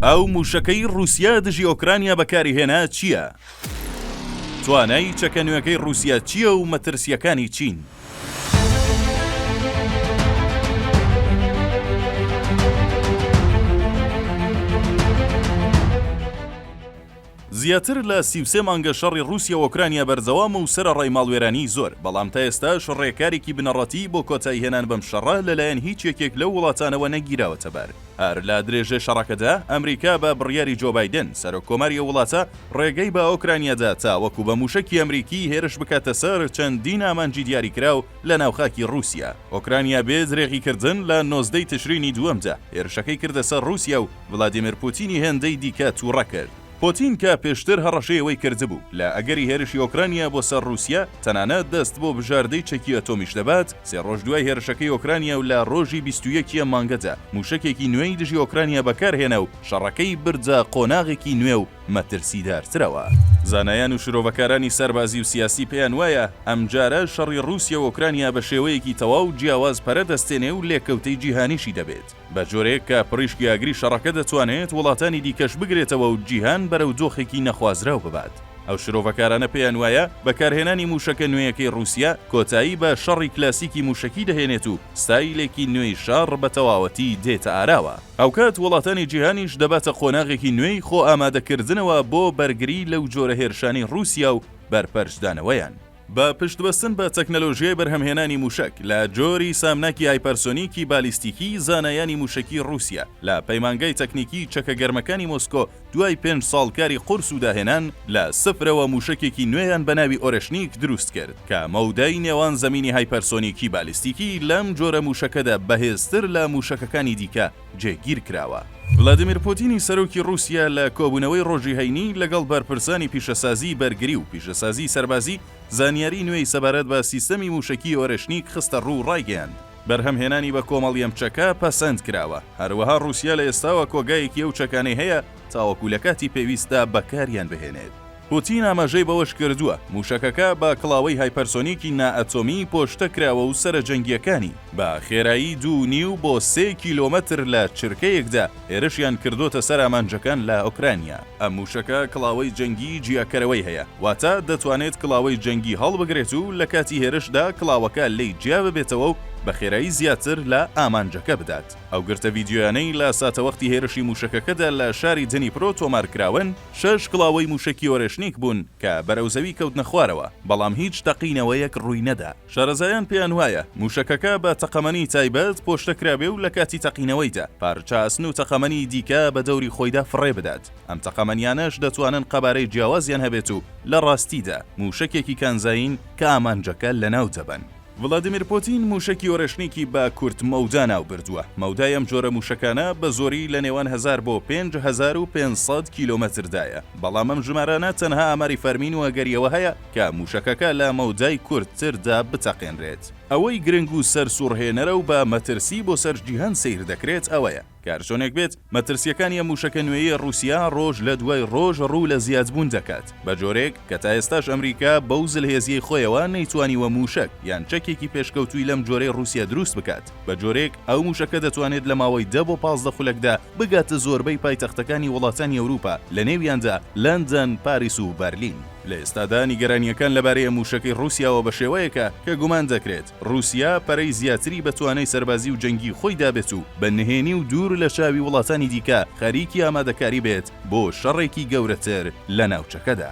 ئەو مووشەکەی ڕووسیا دژی ئۆکرانیا بەکاریهێنا چییە؟ توانای چەکە نوێکەی ڕووسیا چییە و مەترسییەکانی چین؟ زیاتر لە سی و سێ مانگە شەڕی ڕووسیا و ئۆکرانیا بەردەوامە و سەرەڕای ماڵوێرانیی زۆر، بەڵام تا ئێستاش ڕێکارێکی بنەڕەتیی بۆ کۆتاییهێنان بەم شەڕە لەلایەن هیچ یەکێک لەو وڵاتانەوە نەگیراوەتە بەر. هەر لە درێژەی شەڕەکەدا، ئەمریکا بە بڕیاری جۆ بایدن، سەرۆککۆماری ئەو وڵاتە، ڕێگەی بە ئۆکرانیا دا تاوەکو بە مووشەکی ئەمریکی هێرش بکاتە سەر چەندین ئامانجی دیاریکراو لەناو خاکی ڕووسیا. ئۆکرانیا بێ درێغیکردن لە نۆزدە ی تشرینی دووەمدا هێرشەکەی کردە سەر ڕووسیا و، ڤلادیمێر پوتینی هێندەی دیکە تووڕە کرد. پوتین کە پێشتر هەڕەشەی ئەوەی کردبوو لە ئەگەری هێرشی ئۆکرانیا بۆ سەر ڕووسیا تەنانەت دەست بۆ بژاردەی چەکی ئەتۆمیش دەبات، سێ ڕۆژ دوای هێرشەکەی ئۆکرانیا و لە ڕۆژی بیست و یەک ە مانگەدا مووشەکێکی نوێی دژی ئۆکرانیا بەکارهێنا و شەڕەکەی بردە قۆناغێکی نوێ و مەترسیدارترەوە. زانایان و شرۆڤەکارانی سەربازی و سیاسی پێیان وایە ئەمجارە شەڕی ڕووسیا و ئۆکرانیا بە شێوەیەکی تەواو جیاواز پەرە دەستێنێ و لێکەوتەی جیهانیشی دەبێت. بە جۆرێک کە پڕیشکی ئاگری شەڕەکە دەتوانێت وڵاتانی دیکەش بگرێتەوە و جیهان بەرەو دۆخێکی نەخوازراو ببات. ئەو شرۆڤەکارانە پێیان وایە بەکارهێنانی مووشەکە نوێیەکەی ڕووسیا کۆتایی بە شەڕی کلاسیکی مووشەکی دەهێنێت و ستایلێکی نوێی شەڕ بە تەواوەتی دێتە ئاراوە. هاوکات وڵاتانی جیهانیش دەباتە قۆناغێکی نوێی خۆئامادەکردنەوە بۆ بەرگری لەو جۆرە هێرشانەی ڕووسیا و بەرپەرچدانەوەیان. بە پشتبەستن بە تەکنەلۆژیای بەرهەمهێنانی مووشەک لە جۆری سامناکی هایپەرسۆنیکی بالیستیکی، زانایانی مووشەکی ڕووسیا لە پەیمانگای تەکنیکی چەکە گەرمەکانی مۆسکۆ دوای پێنج ساڵ کاری قورس و داهێنان، لە سفرەوە مووشەکێکی نوێیان بە ناوی ئۆرێشنیک دروست کرد کە مەودای نێوان زەمینی هایپەرسۆنیکی بالیستیکی لەم جۆرە مووشەکەدا بەهێزتر لە مووشەکەکانی دیکە جێگیر کراوە. ڤلادیمیر پوتینی سەرۆکی ڕووسیا لە کۆبوونەوەی ڕۆژی هەینی لەگەڵ بەرپرسانی پیشەسازیی بەرگری و پیشەسازیی سەربازی زانیاریی نوێی سەبارەت بە سیستەمی مووشەکیی ئۆرێشنیک خستە ڕوو و ڕایگەیاند، بەرهەمهێنانی بە کۆمەڵی ئەم چەکە پەسەند کراوە، هەروەها ڕووسیا لە ئێستاوە کۆگایەکی ئەو چەکانەی هەیە تاوەکو لە کاتی پێویستدا بەکاریان بهێنێت. پوتین ئاماژەی بەوەشکردووە، مووشەکەکە بە کڵاوەی هایپەرسۆنیکی نائەتۆمی پۆشتە کراوە و سەرە جەنگییەکانی بە خێرایی دوو و نیو بۆ سێ کیلۆمەتر لە چرکەیەکدا هێرشیان کردۆتە سەر ئامانجەکان لە ئۆکرانیا. ئەم مووشەکە کڵاوەی جەنگیی جیاکەرەوەی هەیە، واتە دەتوانێت کڵاوەی جەنگی هەڵبگرێت و لە کاتی هێرشدا کڵاوەکە لێی جیا ببێتەوە و بە خێرایی زیاتر لە ئامانجەکە بدات. ئەو گرتە ڤیدیۆیانەی لە ساتەوەختی هێرشی مووشەکەکەدا لە شاری دنیپرۆ تۆمارکراون، شەش کڵاوەی مووشەکی ئۆرێشنیک بوون کە بەرەو زەوی کەوتنە خوارەوە، بەڵام هیچ تەقینەوەیەک ڕووی نەدا. شارەزایان پێیان وایە مووشەکەکە بە تەقەمەنی تایبەت پۆشتە کرابێ و لە کاتی تەقینەوەیدا پارچە ئاسن و تەقەمەنی دیکە بە دەوری خۆیدا فڕێ بدات، ئەم تەقەمەنیانەش دەتوانن قەبارەی جیاوازیان هەبێت و لە ڕاستیدا مووشەکێکی کانزایین کە ئامانجەکە لەناو دەبەن. ڤلادیمیر پوتین مووشەکی ئۆرێشنیکی بە کورت مەودا ناوبردووە، مەودای ئەم جۆرە مووشەکانە بە زۆری لە نێوان هەزار بۆ پێنج هەزار و پێنج سەد کیلۆمەتردایە، بەڵام ئەم ژمارانە تەنها ئاماری فەرمین و ئەگەری ئەوە هەیە کە مووشەکەکە لە مەودای کورتتردا بتەقێنرێت. ئەوەی گرنگ و سەرسووڕهێنەرە و بە مەترسی بۆ سەر جیهان سەیر دەکرێت ئەوەیە، کارچۆنێک بێت، مەترسییەکانی ئەم مووشەکە نوێیەی ڕووسیا ڕۆژ لە دوای ڕۆژ ڕوو لە زیادبوون دەکات، بە جۆرێک کە تا ئێستاش ئەمریکا بەو زلهێزییەی خۆیەوە نەیتوانیوە مووشەک یان چەکێکی پێشکەوتووی لەم جۆرەی ڕووسیا دروست بکات، بە جۆرێک ئەو مووشەکە دەتوانێت لە ماوەی دە بۆ پازدە خولەکدا بگاتە زۆربەی پایتەختەکانی وڵاتانی ئەوروپا، لەنێویاندا لەندەن، پاریس و بەرلین. لە ئێستادا نیگەرانییەکان لەبارەیە مووشەکەی ڕووسیاوە بەشێوەیەکە کە گومان دەکرێت ڕووسیا پەرەی زیاتری بە توانای سەربازی و جەنگی خۆی دابێت و بە نهێنی و دوور لە چاوی وڵاتانی دیکە خەریکی ئامادەکاری بێت بۆ شەڕێکی گەورەتر لە ناوچەکەدا.